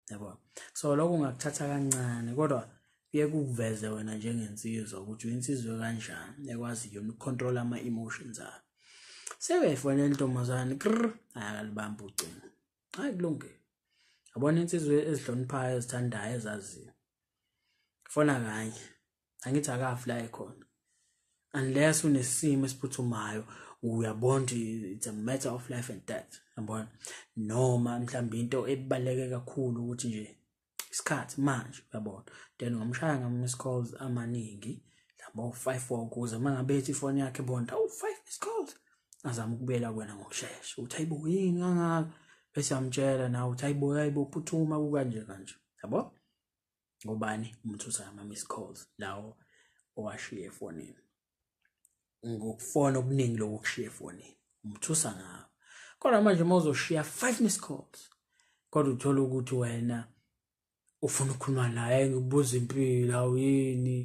yabo so lokho ungakuthatha kancane kodwa kuye kuveze wena njengensizwa ukuthi uyinsizwe kanjani ekwazi yona ukucontrol ama emotions akho sebefonela intombazane kr akalibamba ucingo hayi kulungile yabona insizwe ezihloniphayo ezithandayo ezaziyo fona kanye angithi akafi la ekhona unless unesimo esiphuthumayo uyabona it's a matter of life and death yabona noma mhlawumbe into ebaleke kakhulu ukuthi nje isikhathi manje uyabona then ngomshaya ngam miss calls amaningi labo 5 4 kuze mangabethi ifoni yakhe bonda awu 5 miss calls azama ukubuyela kwena ngokushesha uthi ayibo yini kangaka bese amtshela nawe uthi ayibo ayibo phuthuma kukanje kanje yabo ngobani umthutha ama missed calls lawo owashiye efonini ngokufona okuningi lokho kushiye efonini umthusa ngawo kodwa manje uma uzoshiya five missed calls kodwa uthola ukuthi wena ufuna ukukhuluma naye ngibuza impilo awuyini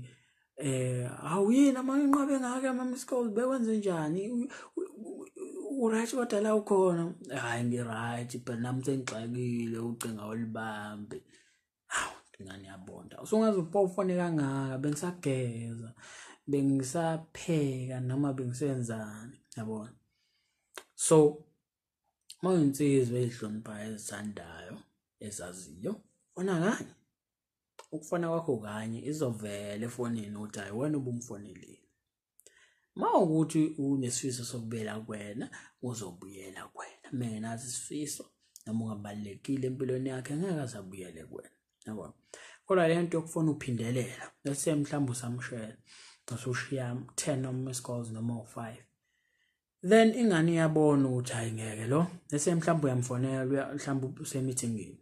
eh awuyini amanqabe ngake ama missed calls bekwenze njani uright kodwa la ukhona hayi ngiright but nami sengixakile ucinga olibambe awu ngani yabonda usungaze upofone kangaka bengisageza bengisapheka noma bengisenzani yabona so uma uyinsizwa ezihloniphayo ezithandayo ezaziyo fona kanye ukufona kwakho kanye izovela efonini ukuthi hayi wena ubumfonelile mawukuthi unesifiso sokubuyela kwena uzobuyela kwena mengenazi isifiso noma ungabalekile empilweni yakhe ngeke azabuyele kwena yabo kodwa le nto yokufuna uphindelela bese mhlawumbe usamshela usushiya 10 noma scores noma 5 then ingane iyabona ukuthi hayi ngeke lo bese mhlawumbe uyamfonela mhlawumbe usemithingini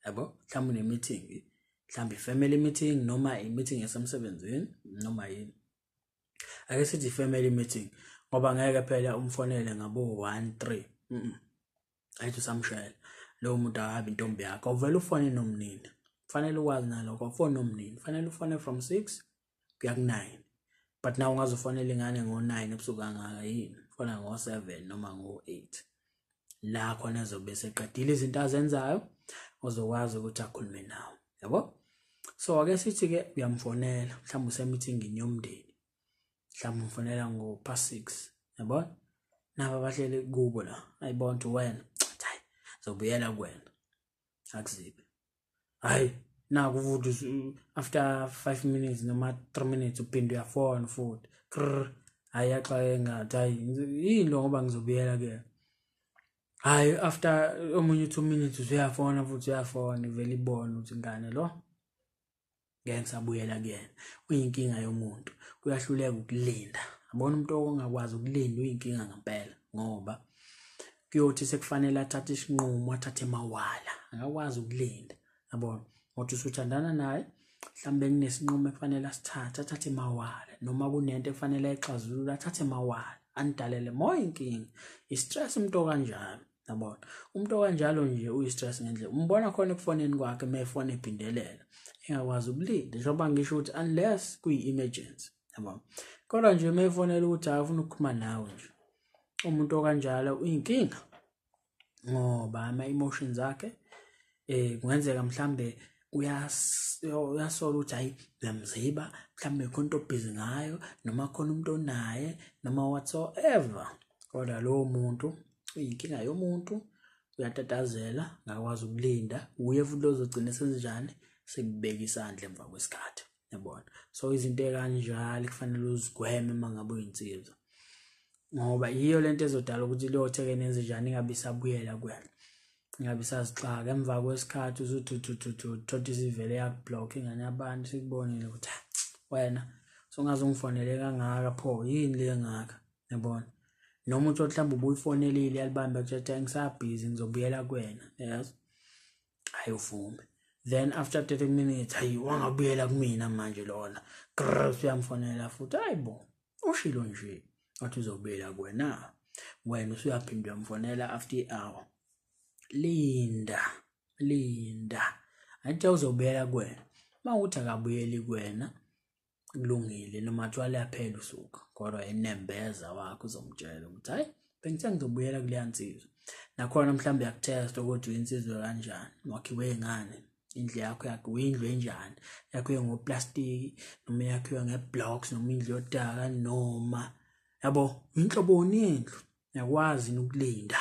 yabo mhlawumbe une-meeting mhlawumbe i-family meeting noma i-meeting yasemsebenzini noma yini ake sithi i-family meeting ngoba ngeke phela umfonele ngabo-one three ayithi usamshayela lowo muntu akabi intombi yakho uvele ufone nomnini kufanele ukwazi nalokho ufone nomnini kufanele ufone from six kuya ku 9 but now ungaze ufanele ingane ngo 9 ebusuku angaka yini fana ngo 7 noma ngo 8 la khona ezobe seqedile izinto azenzayo ozokwazi ukuthi akhulume nawe yabo so ake sithi ke uyamfonela mhlawumbe usemithingini yomndeni mhlawumbe umfonela ngo past 6 yabo nabo abahleli kubo la ayibona ukuthi wena zobuyela kuwena akuzibe hayi naku futhi after 5 minutes noma 3 minutes uphinde uyafona futhi krr hayi yaxaye ngathi hayi yini lo ngoba ngizobuyela ke hayi after omunye 2 minutes usuyafona futhi uyafona ivele ibone ukuthi ngane lo ngeke ngisabuyela kuyena uyinkinga yomuntu uyahluleka ukulinda abona umuntu ongakwazi ukulinda uyinkinga ngempela ngoba kuyothi sekufanele athathe isinqumo athathe mawala akakwazi ukulinda yabona ngothi usuthandana naye mhlawumbe kunesinqumo ekufanele asithathe athathe mawala noma kunento ekufanele ayixazulule athathe mawala anidalele more inkinga i-stress umuntu okanjalo yabona umuntu okanjalo nje uyi-stress ngendlela umbona khona ekufoneni kwakhe uma efone ephindelela engakwazi ukulinda njengoba ngisho ukuthi unless kuyi-emergency yabona kodwa nje uma efonela ukuthi hayi ufuna ukukhuluma nawe nje umuntu okanjalo uyinkinga ngoba ama-emotions akhe eh kungenzeka mhlambe uyasola ukuthi hayi uyamziba mhlambe khona into obhizi ngayo noma khona umuntu onaye noma whatsoever kodwa lowo muntu uyinkinga yomuntu uyatatazela ngakwazi ukulinda uye futhi ozogcina senzenjani sekubeka isandla emva kwesikhathi yabona so izinto ekanjalo kufanele uzigweme uma ngabe uyinsizwa ngoba yiyo le nto ezodala ukuthi liyothe-ke nenze njani ingabe isabuyela kwena ingabe isazixaka emva kwesikhathi uzuthuthuthuthu thothi isivele yakublock ingane abantu sikubonile ukuthi ah, wena songaze ungifonele kangaka pho yini le ngaka yabona noma uthi mhlawumbe ubuyifonelile yalibamba kuthatha ngisabhizi ngizobuyela kwena yes hayi uvume then after 30 minutes hayi wangabuyela kumina manje lona grrrs uyamfonela futhi hayi bo ushilo nje wathi uzobuyela kuwena wena usuyaphinde uyamfonela after i-hour linda linda athi uzobuyela kuwena uma ukuthi akabuyeli kuwena kulungile noma kuthiwa liyaphela usuku kodwa enembeza wakho uzomtshela ukuthi hhayi bengithe ngizobuyela kuleya nsizwa nakhona mhlawumbe uyakuthesta ukuthi uyinsizwa kanjani wakhiwe ngani indlu yakho yakho uyindlu enjani yakhiwe ngoplastiki noma yakhiwe ngeblocks noma indlu yodaka noma yabo inhloboni yendlu yakwazi ukulinda